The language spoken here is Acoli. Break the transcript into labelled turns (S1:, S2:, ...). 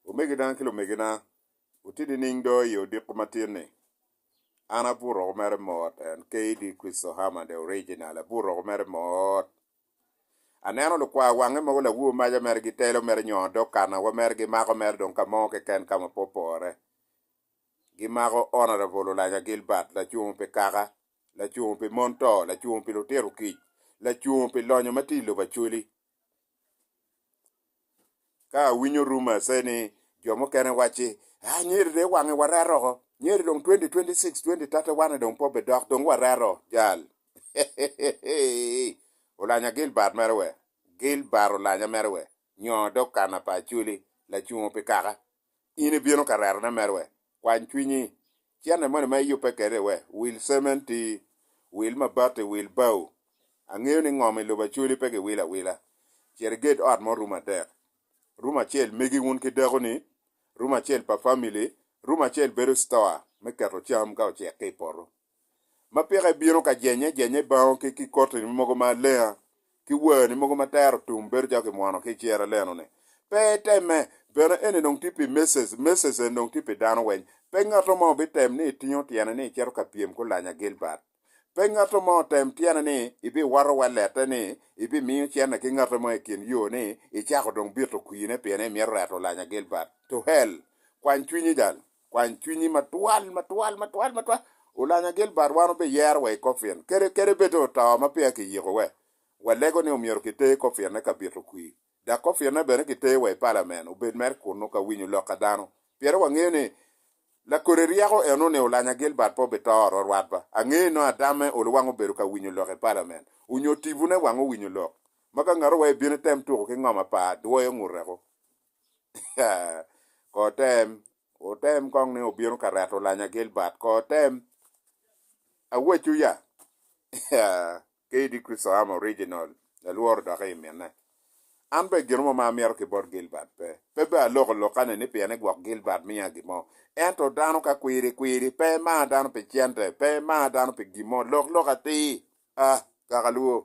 S1: Omegina ki lumegina, wutye nining do i odiko matin-ni? An abut roko mere mot, en KD Christo Herman the original, abut roko mere mot. Aneno lukwar wange mogo lawur maca mere gitelo mere nyongo dog kana wa mere gimako mere dong ka mo keken ka ma pe opore. Gimako Honourable Olanya Gilbert lacungo pi kaka, lacungo pi mon to, lacungo pi lutito kic, lacungo pi lonyo ma tye i lobo Acholi, Ka awinyo rumors eni jo mukene wacci anyira dong iwange warer oko anyira dong twenty twenty six twenty thirty one dong pe obidok dong warer oo jal olanya Gilbert mere wer Gilbert olanya mere wer nyo dong kana pa Acholi lacungo pi kaka. in ibino ka rerone mere wek kwany cwinyi. Cente moni ma iyubbe kwede wek wil cementi, wil mabati, wil bao. Angeyo ni ngom i lobo Acholi pe giwilo awila. Cit iged ot mo rum adek. Rum acel megi wun ki dakoni, rum acel pa famili, rum acel bedo citoa me keto cam ka ocek ki i poto. ma peke ibino ka jenye jenye bango ki ki kotini mogo ma alenga ki werni mogo ma tero tum bedo calo kimwono ki icera leno ni pe iteme bene eni dong tye pi message message eni dong tye pi dano weng pe ngato mo bitem ni itingo tyene ni icito ka pyem ki olanya Gilbert pe ngato mo otem tyene ni ibiwato wa lette ni ibimiyo cene ki ngato mo ikin yo ni icako dong bito kwine pien imito reto olanya Gilbert to hell kwany cwinyi jal. Kwany cwinyi matwal, matwal, matwal, matwal. Ulanya Gilbert wan obiyero wa i kofin. Kede, kede bed oto ma peya kiyiko we, walego ni omyero kiter i kofinne ka bito kwir. Dok kofinne bene kiter wa i palamen, obed mere kunnu ka winyo lok a dano. Pire wangeyo ni lakodi ryeko eno ni Ulanya Gilbert pe obito oro rwatwa. Angeyo ni nongo adamme olu wang obedo ka winyo lok i palamen, onyo tibune wang owinyo lok, ma ka ngato wa ebino item tuku ki ngom apa, dwoyo ngute ko. Kotem, otem kong ni obino ka reto lanya Gilbert. Kotem, aweco ya. KD Kristoam original, alworo dok i mine. An be gin mo ma amito ki bot Gilbert pe. Pe be aloko lokane ni pien ni gwok Gilbert miya gin mo. Ento dano ka kwiri kwiri, pe emar dano pi cente, pe emar dano pi gin mo, lok lok atir. Ah, kaka lwor.